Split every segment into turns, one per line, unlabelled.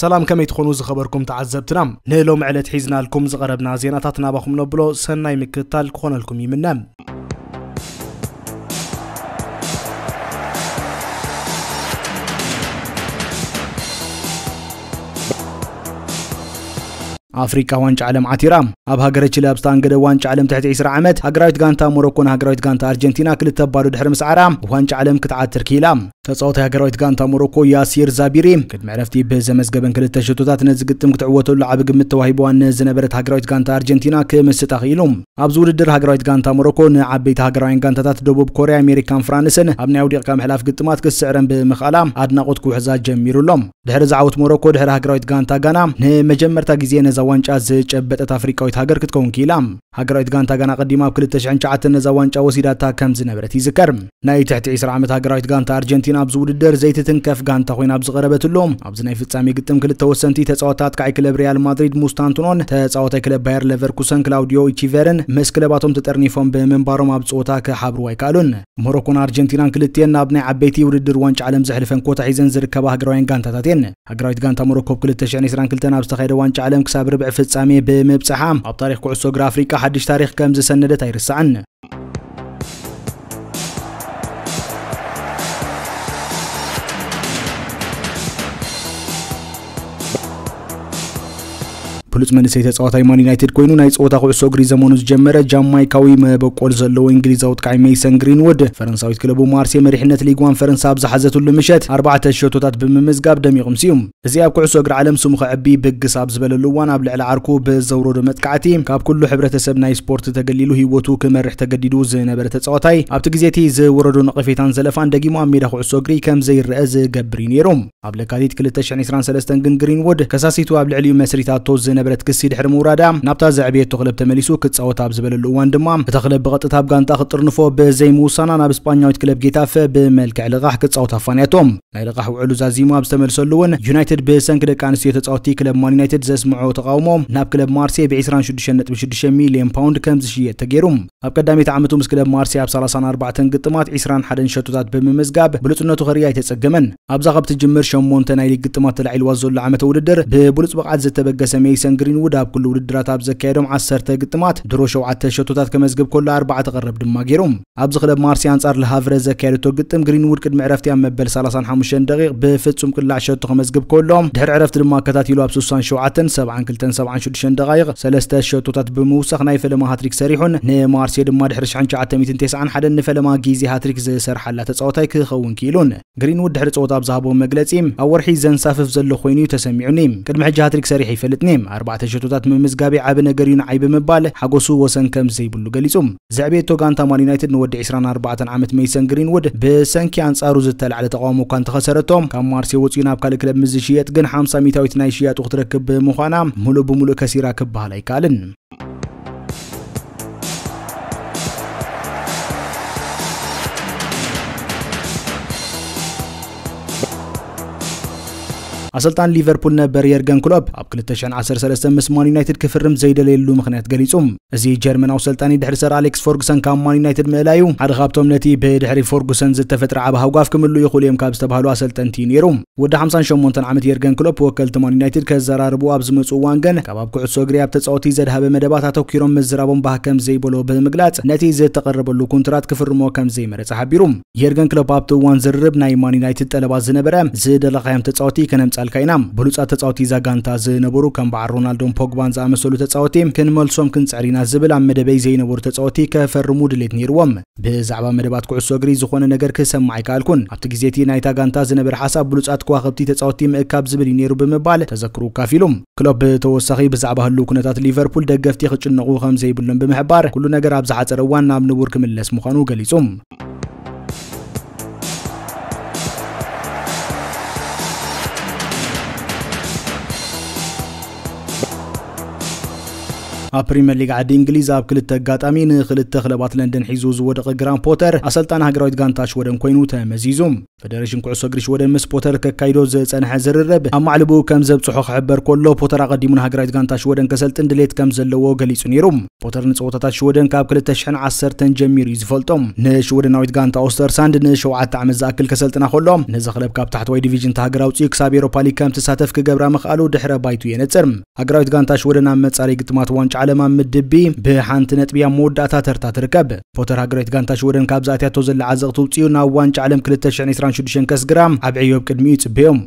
ሰላም ከመይ ትኾኑ ዝኸበርኩም ተዓዘብትና ንሎሚ ዕለት ሒዝናልኩም ዝቐረብና ዜናታት ናባኹም ነብሎ ሰናይ ምክትታል ክኾነልኩም ይምነ ኣፍሪቃ ዋንጫ ዓለም ዓቲራ ኣብ ሃገረ ቺለ ኣብ ዝተኣንገደ ዋንጫ ዓለም ትሕቲ 20 ዓመት ሃገራዊት ጋንታ ሞሮኮን ሃገራዊት ጋንታ ኣርጀንቲና ክልተ ባዶ ድሕሪ ምስዓራ ዋንጫ ዓለም ክትዓትር ክኢላ ተጻዋታይ ሃገራዊት ጋንታ ሞሮኮ ያሲር ዛቢሪ ቅድሚ ዕረፍቲ ብዘመዝገበን ክልተ ሸቶታት ነዚ ግጥም ክትዕወተሉ ዓቢ ግምት ተዋሂብዋ ንዝነበረት ሃገራዊት ጋንታ ኣርጀንቲና ክምስጣ ክኢሉ። ኣብዚ ውድድር ሃገራዊት ጋንታ ሞሮኮ ንዓበይቲ ሃገራውያን ጋንታታት ደቡብ ኮርያ፣ ኣሜሪካን ፍራንስን ኣብ ናይ ኣውዲቕካ ምሕላፍ ግጥማት ክትስዕረን ብምኽኣላ ኣድናቖት ክውሕዛ ጀሚሩ ኣሎ። ድሕሪ እዚ ዓወት ሞሮኮ ድሕሪ ሃገራዊት ጋንታ ጋና ንመጀመርታ ግዜ ነዛ ዋንጫ ዝጨበጠት ኣፍሪቃዊት ሃገር ክትከውን ክኢላ። ሃገራዊት ጋንታ ጋና ቀዲማ ኣብ ክልተ ሽሕን ትሽዓተን ነዛ ዋንጫ ወሲዳታ ከም ዝነበረት ይዝከር። ናይ ትሕቲ ዕስራ ዓመት ሃገራዊት ጋንታ ኣርጀንቲና ኣብዚ ውድድር ዘይትትንከፍ ጋንታ ኮይና ኣብ ዝቐረበትሉ ኣብዚ ናይ ፍጻሜ ግጥም ክልተ ወሰንቲ ተጻወትቲ ኣጥቃዒ ክለብ ሪያል ማድሪድ ሙስታንቱኖን ተጻዋታይ ክለብ ባየር ለቨርኩሰን ክላውዲዮ ኢቺቨርን ምስ ክለባቶም ተጠርኒፎም ብምንባሮም ኣብ ጸወታ ክሓብርዋ ኣይከኣሉን። ሞሮኮን ኣርጀንቲናን ክልቲኤን ናብ ናይ ዓበይቲ ውድድር ዋንጫ ዓለም ዘሕልፈን ኮታ ሒዘን ዝርከባ ሃገራውያን ጋንታታት እየን። ሃገራዊት ጋንታ ሞሮኮ ብ 2022 ኣብ ዝተኻየደ ዋንጫ ዓለም ክሳብ ርብዒ ፍጻሜ ብምብጻሓ ኣብ ታሪኽ ኩዕሶ እግሪ ኣፍሪቃ ሓድሽ ታሪኽ ከም ዝሰነደት ኣይርሳዕን። ብሉጽ መንእሰይ ተጻዋታይ ማን ዩናይትድ ኮይኑ ናይ ጸወታ ኩዕሶ እግሪ ዘመኑ ዝጀመረ ጃማይካዊ መበቆል ዘለዎ እንግሊዛዊ ወጥቃዒ ሜይሰን ግሪንውድ ፈረንሳዊት ክለቡ ማርሴ መሪሕነት ሊግዋን ፈረንሳ ኣብ ዝሓዘትሉ ምሸት ኣርባዕተ ሸቶታት ብምምዝጋብ ደሚቑም ሲዩ። እዚ ኣብ ኩዕሶ እግሪ ዓለም ስሙ ከዕቢ ብግስ ኣብ ዝበለሉ እዋን ኣብ ልዕሊ ዓርኩ ብዘውረዶ መጥቃዕቲ ካብ ኩሉ ሕብረተሰብ ናይ ስፖርት ተገሊሉ ህይወቱ ክመርሕ ተገዲዱ ዝነበረ ተጻዋታይ ኣብቲ ግዜ እቲ ዝወረዶ ነቐፌታን ዘለፋን ደጊሙ ኣብ ሜዳ ኩዕሶ እግሪ ከም ዘይረኣ ዝገብር እዩ ነይሩ። ኣብ ለካቲት ክልተ ሽሕን ዒስራን ሰለስተን ግን ግሪንዉድ ከሳሲቱ ኣብ ልዕሊኡ መስሪታቶ ዝነበረት ክሲ ድሕሪ ምውራዳ ናብታ ዘዕበየቶ ክለብ ተመሊሱ ክጻወት ኣብ ዝበለሉ እዋን ድማ እታ ክለብ ብቐጥታ ኣብ ጋንታኣ ክትጥርንፎ ብዘይምውሳና ናብ ስጳኛዊት ክለብ ጌታፈ ብመልክዕ ልቓሕ ክጻወት ኣፋንያቶ። ናይ ልቓሕ ውዕሉ ዛዚሙ ኣብ ዝተመልሰሉ እውን ዩናይትድ ብሰንኪ ደቂ ኣንስትዮ ተጻወትቲ ክለብ ማን ዩናይትድ ዘስምዕኦ ተቓውሞ ናብ ክለብ ማርሴይ ብ ዒስራን ሽዱሽተን ነጥቢ ሽዱሽተ ሚልዮን ፓውንድ ከምዝሽየጥ ተገይሩ። ኣብ ቀዳመይቲ ዓመቱ ምስ ክለብ ማርሴይ ኣብ ሰላሳን ኣርባዕተን ግጥማት ዕስራን ሓደን ሸቶታት ብምምዝጋብ ብሉጽነቱ ከርእይ ኣይተጸገመን። ኣብዛ ካብ ትጅምር ሸሞንተ ናይ ሊግ ግጥማት ተላዒልዋ ዘሎ ዓመተ ውድድር ብብሉጽ ብቕዓት ዝተበገሰ ሜይሰን ግሪንዉድ ኣብ ኩሉ ውድድራት ኣብ ዘካየዶም ዓሰርተ ግጥማት ድሮ ሸውዓተ ሸቶታት ከመዝግብ ከሎ ኣርባዕተ ቀረብ ድማ ገይሩ። ኣብዚ ክለብ ማርሴይ ኣንጻር ለ ሃቭረ ዘካየደቶ ግጥም ግሪንዉድ ቅድሚ ዕረፍቲ ኣብ መበል ሰላሳን ሓሙሽተን ደቒቕ ብፍጹም ቅላዕ ሸቶ ከመዝግብ ከሎ ድሕሪ ዕረፍቲ ድማ ኣከታቲሉ ኣብ ስሳን ሸውዓተን፣ ሰብዓን ክልተን፣ ሰብዓን ሽሕን ደቓይቕ ሰለስተ ሸቶታት ብምውሳኽ ናይ ፈለማ ሃትሪክ ሰሪሑን ንማርሴ ድማ ድሕሪ ሽሕን ትሽዓተ ሚእትን ተስዓን ሓደን ንፈለማ ግዜ ሃትሪክ ዝሰርሓላ ተጻዋታይ ክኸውን ክኢሉን። ግሪንዉድ ድሕሪ ጸወታ ኣብ ዝሃቦ መግለጺ፣ ኣብ ወርሒ ዘንሳፍፍ ዘሎ ኮይኑ'ዩ ተሰሚዑኒ። ቅድሚ ሕጂ ሃትሪክ ሰሪሐ ኣይፈልጥን'የ። ኣርባዕተ ሸቶታት ምምዝጋበይ ዓቢ ነገር'ዩ ንዓይ ብምባል ሓጎሱ ወሰን ከም ዘይብሉ ገሊጹ። ዘዕበየቶ ጋንታ ማን ዩናይትድ ንወዲ ዕስራን ኣርባዕተን ዓመት መይሰን ግሪንውድ ብሰንኪ ኣንጻሩ ዝተላዕለ ተቓውሞ እኳ እንተኸሰረቶ ካብ ማርሴ ወጺኡ ናብ ካልእ ክለብ ምስ ዝሽየጥ ግን ሓምሳ ሚታዊት ናይ ሽያጡ ክትረክብ ብምዃና ምሉእ ብምሉእ ከሲራ ክበሃል ኣይከኣልን። ኣሰልጣኒ ሊቨርፑል ነበር የርገን ክሎፕ ኣብ 2013 ምስ ማን ዩናይትድ ክፍርም ዘይደለየሉ ምኽንያት ገሊጹ። እዚ ጀርመናዊ ሰልጣኒ ድሕሪ ሰር ኣሌክስ ፎርጉሰን ካብ ማን ዩናይትድ ምእላዩ ሓደ ካብቶም ነቲ ብድሕሪ ፎርጉሰን ዝተፈጥረ ዓቢ ሃጓፍ ክምልኡ ይኽእሉ እዮም ካብ ዝተባህሉ ኣሰልጠንቲ እዩ ነይሩ። ወዲ 58 ዓመት የርገን ክሎፕ ወከልቲ ማን ዩናይትድ ከዘራርቡ ኣብ ዝመጹ እዋን ግን ካብ ኣብ ኩዕሶ እግሪ ኣብ ተጻወቲ ዘድሃበ መደባት ኣተኲሮም ምዝራቦም ባህ ከም ዘይበሎ ብምግላጽ ነቲ ዝተቐረበሉ ኩንትራት ክፍርሞ ከም ዘይመረጸ ሓቢሩ። የርገን ክሎፕ ኣብቲ እዋን ዝርርብ ናይ ማን ዩናይትድ ጠለባት ዝነበረ ዝደለኻዮም ተፃወቲ ከነምፃልካ ኢና ብሉፃት ተፃወቲ እዛ ጋንታ ዝነበሩ ከም በዓል ሮናልዶን ፖግባን ዝኣመሰሉ ተፃወቲ ክንመልሶም ክንፅዕር ኢና ዝብል ኣብ መደበይ ዘይነበሩ ተፃወቲ ከፈርሙ ድሌት ነይርዎም ብዛዕባ መደባት ኩዕሶ እግሪ ዝኾነ ነገር ክሰማዕ ኣይከኣልኩን ኣብቲ ግዜ እቲ ናይታ ጋንታ ዝነበረ ሓሳብ ብሉፃት ከዋኸብቲ ተፃወቲ ምእካብ ዝብል እዩ ነይሩ ብምባል ተዘክሩ ካፊሉ ክሎፕ ብተወሳኺ ብዛዕባ ህልው ኩነታት ሊቨርፑል ደገፍቲ ክጭነቑ ከም ዘይብሎም ብምሕባር ኩሉ ነገር ኣብ ዝሓፀረ እዋን ናብ ንቡር ክምለስ ምዃኑ ገሊፁ ኣብ ፕሪምየር ሊግ ዓዲ እንግሊዝ ኣብ ክልተ ኣጋጣሚ ንክልተ ክለባት ለንደን ሒዙ ዝወደቐ ግራን ፖተር ኣሰልጣኒ ሃገራዊት ጋንታ ሽወደን ኮይኑ ተመዚዙ ፈደረሽን ኩዕሶ እግሪ ሽወደን ምስ ፖተር ከካይዶ ዝጸንሐ ዝርርብ ኣብ ማዕልብኡ ከም ዘብጽሖ ክሕበር ከሎ ፖተር ኣቐዲሙ ንሃገራዊት ጋንታ ሽወደን ከሰልጥን ድሌት ከም ዘለዎ ገሊጹ ነይሩ። ፖተር ንጸወታታት ሽወደን ካብ 2010 ጀሚሩ እዩ ዝፈልጦ። ንሽወደናዊት ጋንታ ኦስተርሳንድ ንሸውዓተ ዓመት ዝኣክል ከሰልጥና ከሎ፣ ነዛ ክለብ ካብ ታሕተዋይ ዲቪዥን እታ ሃገር ኣውጺኡ ክሳብ ኤውሮፓ ሊግ ከም ትሳተፍ ክገብራ ምኽኣሉ ድሕረ ባይትኡ የነጽር። ሃገራዊት ጋንታ ሽወደን ኣብ መጻረዪ ግጥማት ዋንጫ ዓለም ኣብ ምድብ ቢ ብሓንቲ ነጥቢ ኣብ መወዳእታ ተርታ ትርከብ። ፖተር ሃገራዊት ጋንታ ሽወደን ካብ ዝኣትያቶ ዘላ ዓዘቕቲ ውጺኡ ናብ ዋንጫ ዓለም ክልተ ሽሕን ዕስራን ሽዱሽተን ከስግራ ኣብ ዕዮ ኣብ ቅድሚኡ ይጽበዮም።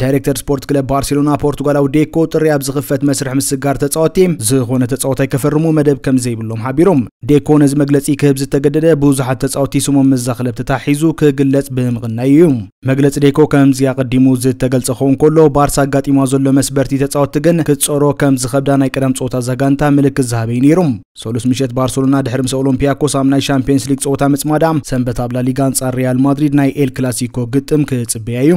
ዳይሬክተር ስፖርት ክለብ ባርሴሎና ፖርቱጋላዊ ዴኮ ጥሪ ኣብ ዝኽፈት መስርሕ ምስጋር ተፃወቲ ዝኾነ ተፃወታይ ከፈርሙ መደብ ከም ዘይብሎም ሓቢሮም ዴኮ ነዚ መግለፂ ክህብ ዝተገደደ ብዙሓት ተፃወቲ ስሞም ምስዛ ክለብ ተታሒዙ ክግለፅ ብምቕናዩ እዩ መግለፂ ዴኮ ከምዚ ኣቐዲሙ ዝተገልፀ ክኸውን ከሎ ባርሳ ኣጋጢሞ ዘሎ መስበርቲ ተፃወቲ ግን ክትፀሮ ከም ዝኸብዳ ናይ ቀደም ፀወታ እዛ ጋንታ ምልክት ዝሃበ እዩ ነይሩ ሰሉስ ምሸት ባርሴሎና ድሕሪ ምስ ኦሎምፒያኮስ ኣብ ናይ ሻምፒየንስ ሊግ ፀወታ ምፅማዳ ሰንበት ኣብ ላሊጋ ኣንፃር ሪያል ማድሪድ ናይ ኤል ክላሲኮ ግጥም ክፅበያ እዩ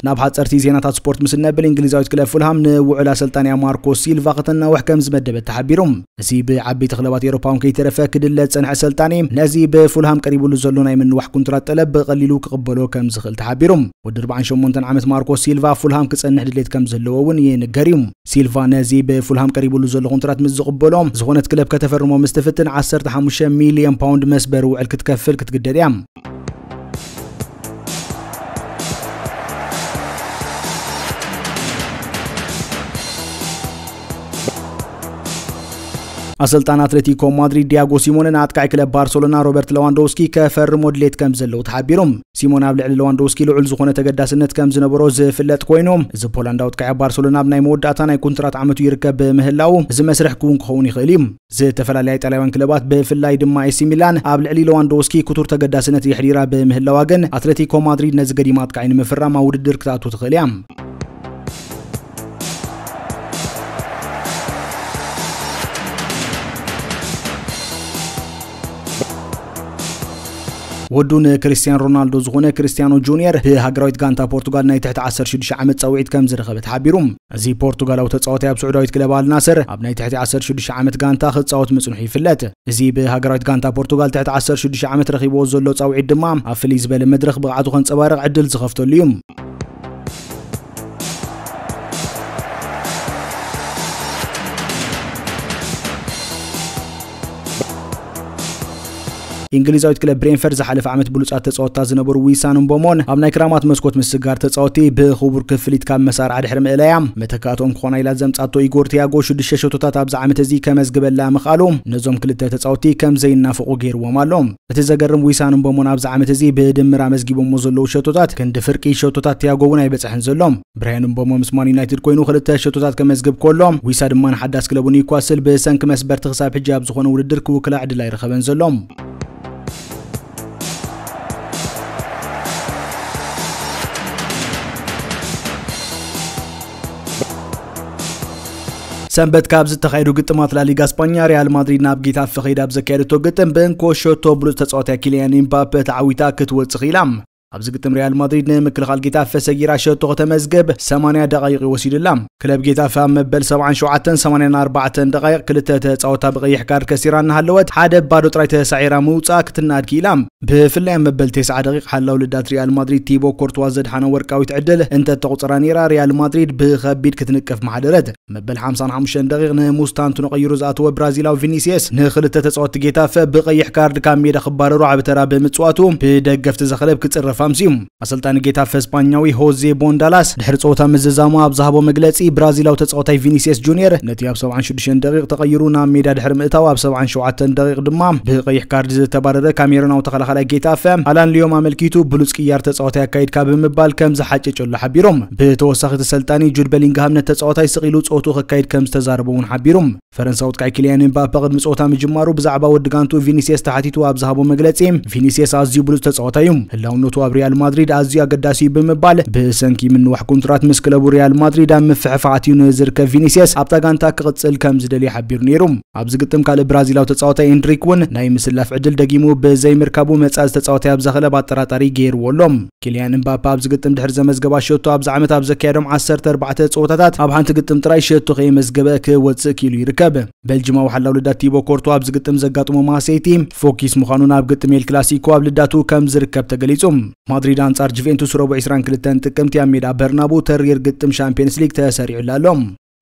ናብ ሓፀርቲ ዜናታት ስፖርት ምስ እነብል እንግሊዛዊት ክለብ ፉልሃም ንውዕል ኣሰልጣንያ ማርኮ ሲልቫ ከተናውሕ ከም ዝመደበት ተሓቢሩ እዚ ብዓበይቲ ክለባት ኤሮፓውን ከይተረፈ ክድለ ዝፀንሐ ኣሰልጣኒ ነዚ ብፉልሃም ቀሪብሉ ዘሎ ናይ ምንዋሕ ኩንትራት ጠለብ ብቐሊሉ ክቕበሎ ከም ዝኽእል ተሓቢሩ ወዲ 48 ዓመት ማርኮ ሲልቫ ፉልሃም ክፀንሕ ድሌት ከም ዘለዎ እውን ይንገር እዩ ሲልቫ ነዚ ብፉልሃም ቀሪብሉ ዘሎ ኮንትራት ምስ ዝቕበሎ፣ ዝኾነት ክለብ ከተፈርሞ ምስ ትፍትን ዓሰርተ ሓሙሽተ ሚልዮን ፓውንድ መስበሪ ውዕል ክትከፍል ክትግደድ እያ። ኣሰልጣን ኣትሌቲኮ ማድሪድ ዲያጎ ሲሞነ ንኣጥቃዒ ክለብ ባርሰሎና ሮበርት ለዋንዶውስኪ ከፈርሞ ድሌት ከም ዘለዎ ተሓቢሩ። ሲሞን ኣብ ልዕሊ ለዋንዶውስኪ ልዑል ዝኾነ ተገዳስነት ከም ዝነበሮ ዝፍለጥ ኮይኑ፣ እዚ ፖላንዳዊ ኣጥቃዒ ኣብ ባርሰሎና ኣብ ናይ መወዳእታ ናይ ኩንትራት ዓመቱ ይርከብ ብምህላዉ፣ እዚ መስርሕ ክዉን ክኸውን ይኽእል እዩ። ዝተፈላለያ ኢጣልያውያን ክለባት ብፍላይ ድማ ኤሲ ሚላን ኣብ ልዕሊ ለዋንዶውስኪ ክቱር ተገዳስነት የሕዲራ ብምህላዋ ግን፣ ኣትለቲኮ ማድሪድ ነዚ ገዲም ኣጥቃዒ ንምፍራም ኣብ ውድድር ክትኣቱ ትኽእል እያ። ወዱ ንክርስትያን ሮናልዶ ዝኾነ ክርስትያኖ ጁንየር ብሃገራዊት ጋንታ ፖርቱጋል ናይ ትሕቲ 16 ዓመት ጸውዒት ከም ዝረኸበ ተሓቢሩ እዚ ፖርቱጋላዊ ተጻዋታይ ኣብ ስዑዳዊት ክለብ ኣልናስር ኣብ ናይ ትሕቲ 16 ዓመት ጋንታ ክጻወት ምጽንሑ ይፍለጥ እዚ ብሃገራዊት ጋንታ ፖርቱጋል ትሕቲ 16 ዓመት ረኺብዎ ዘሎ ጻውዒት ድማ ኣብ ፍልይ ዝበለ መድረኽ ብቕዓቱ ከንጸባርቕ ዕድል ዝኸፍተሉ እዩ ኢንግሊዛዊት ክለብ ብሬንፈርድ ዝሓለፈ ዓመት ብሉጻት ተጻወትታ ዝነበሩ ዊሳን እምቦሞን ኣብ ናይ ክራማት መስኮት ምስጋር ተጻወቲ ብክቡር ክፍሊት ካብ መሳርዓ ድሕሪ ምእላያ መተካእትኦም ክኾና ኢላ ዘምጻቶ ኢጎር ቲያጎ ሽዱሽተ ሸቶታት ኣብዚ ዓመት እዚ ከመዝግበላ ምኽኣሉ ነዞም ክልተ ተጻወቲ ከም ዘይናፈቑ ገይርዎም ኣሎ። እቲ ዘገርም ዊሳን እምቦሞን ኣብዚ ዓመት እዚ ብድምር ኣመዝጊቦሞ ዘለዉ ሸቶታት ክንዲ ፍርቂ ሸቶታት ቲያጎ እውን ኣይበጽሐን ዘሎ። ብራያን እምቦሞ ምስ ማን ዩናይትድ ኮይኑ ክልተ ሸቶታት ከመዝግብ ከሎ፣ ዊሳ ድማ ንሓዳስ ክለቡ ኒውካስል ብሰንኪ መስበርቲ ክሳብ ሕጂ ኣብ ዝኾነ ውድድር ክውክላ ዕድል ኣይረኸበን ዘሎ። ሰንበት ካብ ዝተኻየዱ ግጥማት ላሊጋ ስፓኛ ሪያል ማድሪድ ናብ ጌታፈ ከይዳ ኣብ ዘካየደቶ ግጥም ብእንኮ ሸቶ ብሉፅ ተፃዋታይ ኪልያን ኢምባፔ ተዓዊታ ክትወፅእ ኽኢላ ኣብዚ ግጥም ሪያል ማድሪድ ንምክልኻል ጌታፈ ሰጊራ ሸቶ ከተመዝግብ 80 ደቓይቕ እዩ ወሲዱላ። ክለብ ጌታፈ ኣብ መበል 77ን 84ን ደቓይቕ ክልተ ተጻወታ ብቐይሕ ካርድ ከሲራ እናሃለወት ሓደ ባዶ ጥራይ ተሳዒራ ምውጽኣ ክትናኣድ ክኢላ። ብፍላይ ኣብ መበል ቴስዓ ደቒቕ ሓላው ልዳት ሪያል ማድሪድ ቲቦ ኮርትዋ ዘድሓና ወርቃዊት ዕድል እንተተቑጽራ ነይራ ሪያል ማድሪድ ብኸቢድ ክትንቀፍ ምሓደረት። መበል ሓምሳን ሓሙሽተን ደቂቕ ንሙስታንቱኖ ቀይሩ ዝኣተወ ብራዚላዊ ቪኒስየስ ንክልተ ተጻወትቲ ጌታፈ ብቀይሕ ካርድ ካብ ሜዳ ክባረሩ ዓቢ ተራ ብምጽዋቱ ብደገፍቲ እዛ ክለብ ክጽረፍ ኣምስዩ። ኣሰልጣኒ ጌታፈ ስጳኛዊ ሆዜ ቦንዳላስ ድሕሪ ጸወታ ምዝዛሙ ኣብ ዝሃቦ መግለጺ ብራዚላዊ ተጻዋታይ ቪኒስየስ ጁንየር ነቲ ኣብ ሰብዓን ሽዱሽተን ደቂቕ ተቐይሩ ናብ ሜዳ ድሕሪ ምእታው ኣብ ሰብዓን ሸውዓተን ደቂቕ ድማ ብቀይሕ ካርድ ዝተባረረ ካሜሩናዊ ተኸላኻላይ ጌታፈ ኣላን ሊዮም ኣመልኪቱ ብሉጽ ቅያር ተጻዋታይ ኣካይድካ ብምባል ከም ዝሓጨጨሉ ሓቢሮም። ብተወሳኺ ተሰልጣኒ ጁድ በሊንግሃም ነቲ ተጻዋታይ ስቕ ኢሉ ጸወትኡ ከካይድ ከም ዝተዛረቦ እውን ሓቢሩ። ፈረንሳዊ ኣጥቃዒ ኪልያን ኤምባፐ ቅድሚ ጸወታ ምጅማሩ ብዛዕባ ወዲ ጋንትኡ ቪኒስየስ ተሓቲቱ ኣብ ዝሃቦ መግለጺ ቪኒስየስ ኣዝዩ ብሉጽ ተጻዋታይ እዩ፣ ህላውነቱ ኣብ ሪያል ማድሪድ ኣዝዩ ኣገዳሲ እዩ ብምባል ብሰንኪ ምንዋሕ ኮንትራት ምስ ክለቡ ሪያል ማድሪድ ኣብ ምፍሕፋሕ ኣትዩ ንዝርከብ ቪኒስየስ ኣብታ ጋንታ ክቕጽል ከም ዝደልይ ሓቢሩ ነይሩ። ኣብዚ ግጥም ካልእ ብራዚላዊ ተጻዋታይ ኤንድሪክ እውን ናይ ምስላፍ ዕድል ደጊሙ ብዘይምርካቡ መጻኢ ተጻዋታይ ኣብዛ ክለብ ኣጠራጣሪ ገይርዎ ኣሎ። ኪልያን እምባፐ ኣብዚ ግጥም ድሕሪ ዘመዝገባ ሸቶ ኣብዚ ዓመት ኣብ ዘካየዶም ዓሰርተ ኣርባዕተ ጸወታታት ኣብ ሓንቲ ግጥም ጥራይ ሸቶ ከየመዝገበ ክወጽእ ክኢሉ ይርከብ። ቤልጅማዊ ሓላው ልዳት ቲቦ ኮርቶ ኣብዚ ግጥም ዘጋጥሞ ማሴይቲ ፎኪስ ምዃኑ ናብ ግጥም ኤል ክላሲኮ ኣብ ልዳቱ ከም ዝርከብ ተገሊጹ። ማድሪድ ኣንጻር ጁቬንቱስ ረቡዕ ዕስራን ክልተን ጥቅምቲ ኣብ ሜዳ በርናቡ ተሪር ግጥም ሻምፕየንስ ሊግ ተሰሪዑላ ኣሎ።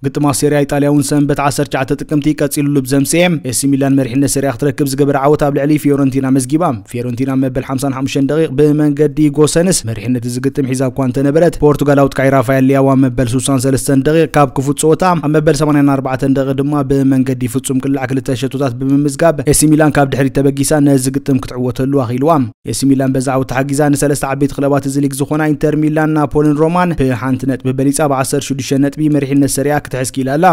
ግጥማ ሴሪያ ኢጣልያ እውን ሰንበት ዓሰርተ ትሽዓተ ጥቅምቲ ቀጺሉሉ ብዘምስኤ ኤሲ ሚላን መሪሕነት ሴሪያ ክትረክብ ዝገበረ ዓወት ኣብ ልዕሊ ፊዮረንቲና መዝጊባ። ፊዮረንቲና ኣብ መበል ሓምሳን ሓሙሽተን ደቒቕ ብመንገዲ ጎሰንስ መሪሕነት እዚ ግጥም ሒዛ እኳ እንተነበረት፣ ፖርቱጋላዊ ኣጥቃዒ ራፋኤል ሊያው ኣብ መበል ሱሳን ሰለስተን ደቒቕ ካብ ክፉት ጸወታ፣ ኣብ መበል ሰማንያን ኣርባዕተን ደቒቕ ድማ ብመንገዲ ፍጹም ቅላዕ ክልተ ሸቶታት ብምምዝጋብ ኤሲ ሚላን ካብ ድሕሪት ተበጊሳ ነዚ ግጥም ክትዕወተሉ ኣኽኢልዋ። ኤሲ ሚላን በዚ ዓውት ተሓጊዛ ንሰለስተ ዓበይቲ ክለባት እዚ ሊግ ዝኾና ኢንተር ሚላን፣ ናፖልን ሮማን ብሓንቲ ነጥቢ በሊጻ ብዓሰርተ ሽዱሽተ ነጥቢ መሪሕነት ሰሪኣ ክትሕዝ ክኢላ ኣላ።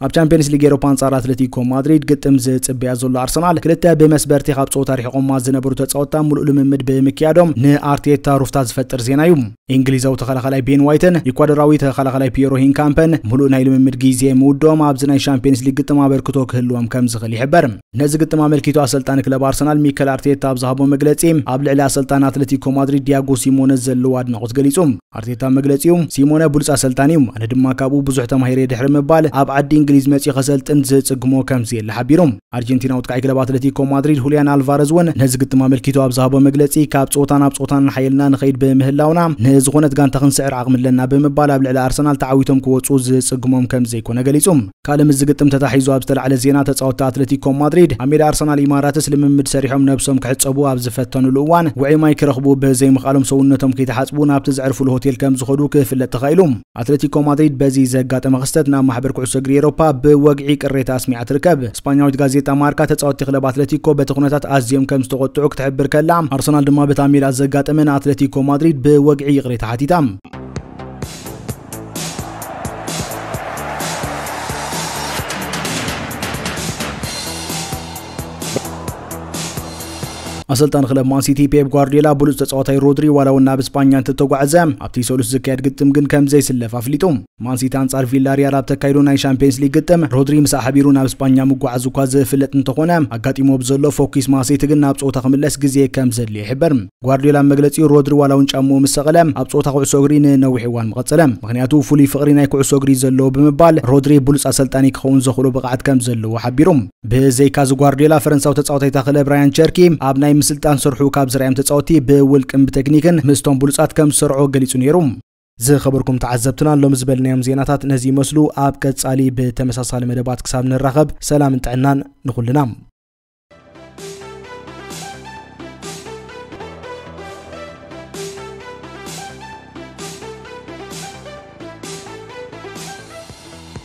ኣብ ቻምፒየንስ ሊግ ኤሮፓ ኣንጻር ኣትለቲኮ ማድሪድ ግጥም ዝጽበያ ዘሎ ኣርሰናል ክልተ ብመስበርቲ ካብ ጸወታ ሪሕቆማ ዝነበሩ ተጻወታ ሙሉእ ልምምድ ብምክያዶም ንኣርቴታ ሩፍታ ዝፈጥር ዜና እዩ። እንግሊዛዊ ተኸላኻላይ ቤን ዋይትን ኢኳዶራዊ ተኸላኻላይ ፒየሮ ሂንካምፐን ምሉእ ናይ ልምምድ ግዜ ምውድኦም ኣብዚ ናይ ሻምፒየንስ ሊግ ግጥም ኣበርክቶ ክህልዎም ከም ዝኽእል ይሕበር ነዚ ግጥም ኣመልኪቱ ኣሰልጣኒ ክለብ ኣርሰናል ሚከል ኣርቴታ ኣብ ዝሃቦ መግለጺ ኣብ ልዕሊ ኣሰልጣኒ ኣትለቲኮ ማድሪድ ዲያጎ ሲሞነ ዘለዎ ኣድናቖት ገሊጹ ኣርቴታ መግለጺኡ ሲሞነ ብሉጽ ኣሰልጣኒ እዩ ኣነ ድማ ካብኡ ብዙሕ ተማሂረ ድሕሪ ምባል ኣብ ዓዲ እንግሊዝ መጺኡ ከሰልጥን ዝጽግሞ ከምዘየለ ሓቢሩ ኣርጀንቲናዊ ተካኢ ክለብ ኣትለቲኮ ማድሪድ ሁልያን ኣልቫረዝ እውን ነዚ ግጥም ኣመልኪቱ ኣብ ዝሃቦ መግለፂ ካብ ፀወታ ናብ ፀወታ እናሓየልና ንኸይድ ብምህላውና ንዝኾነት ጋንታ ክንስዕር ዓቕሚ ኣለና ብምባል ኣብ ልዕሊ ኣርሰናል ተዓዊቶም ክወፁ ዝፅግሞም ከም ዘይኮነ ገሊፁ። ካልእ ምስዚ ግጥም ተታሒዙ ኣብ ዝተላዕለ ዜና ተፃወትቲ ኣትለቲኮ ማድሪድ ኣብ ሜዳ ኣርሰናል ኢማራትስ ልምምድ ሰሪሖም ነብሶም ክሕፀቡ ኣብ ዝፈተንሉ እዋን ውዑይ ማይ ክረኽቡ ብዘይምኽኣሎም ሰውነቶም ከይተሓፅቡ ናብቲ ዘዕርፍሉ ሆቴል ከም ዝኸዱ ክፍለጥ ተኻኢሉ። ኣትለቲኮ ማድሪድ በዚ ዘጋጠመ ክስተት ናብ ማሕበር ኩዕሶ እግሪ ኤሮፓ ብወግዒ ቅሬታ ኣስሚዓ ትርከብ። ስጳኛዊት ጋዜጣ ማርካ ተጻወትቲ ክለብ ኣትለቲኮ በቲ ኩነታት ኣዝዮም ከም ዝተቖጥዑ ክትሕብር ከላ፣ ኣርሰናል ድማ በታ ሜላ ዘጋጠመ ንኣትለቲኮ ማድሪድ ብወግዒ ይቕሬታ ሓቲታ። ኣሰልጣኒ ክለብ ማንሲቲ ፔፕ ጓርዲዮላ ብሉፅ ተፃዋታይ ሮድሪ ዋላ እውን ናብ እስጳኛ እንትተጓዕዘ ኣብቲ ሰሉስ ዝካየድ ግጥም ግን ከም ዘይስለፍ ኣፍሊጡ ማንሲቲ ኣንጻር ቪላሪያል ኣብ ተካይዶ ናይ ሻምፒየንስ ሊግ ግጥም ሮድሪ ምሳ ሓቢሩ ናብ እስጳኛ ምጓዓዝ እኳ ዝፍለጥ እንተኾነ ኣጋጢሞ ብዘሎ ፎኪስ ማሴቲ ግን ናብ ፀወታ ክምለስ ግዜ ከም ዘድልዮ ይሕበር ጓርዲዮላ መግለፂኡ ሮድሪ ዋላ እውን ጫምኡ ምስ ሰቐለ ኣብ ፀወታ ኩዕሶ እግሪ ንነዊሕ እዋን ምቐፀለ ምክንያቱ ፍሉይ ፍቕሪ ናይ ኩዕሶ እግሪ ዘለዎ ብምባል ሮድሪ ብሉፅ ኣሰልጣኒ ክኸውን ዘኽእሎ ብቕዓት ከም ዘለዎ ሓቢሩ ብዘይካዚ ጓርድዮላ ፈረንሳዊ ተጻዋታይታ ክለብ ብራያን ቸርኪ ኣብ ናይ ምስልጣን ስርሑ ካብ ዝርኣዮም ተጻወቲ ብውልቅን ብተክኒክን ምስቶም ብሉጻት ከም ዝሰርዖ ገሊጹ ነይሩ። ዝኸበርኩም ተዓዘብትና ሎሚ ዝበልናዮም ዜናታት ነዚ ይመስሉ። ኣብ ቀጻሊ ብተመሳሳሊ መደባት ክሳብ ንራኸብ ሰላምን ጥዕናን ንኹልና።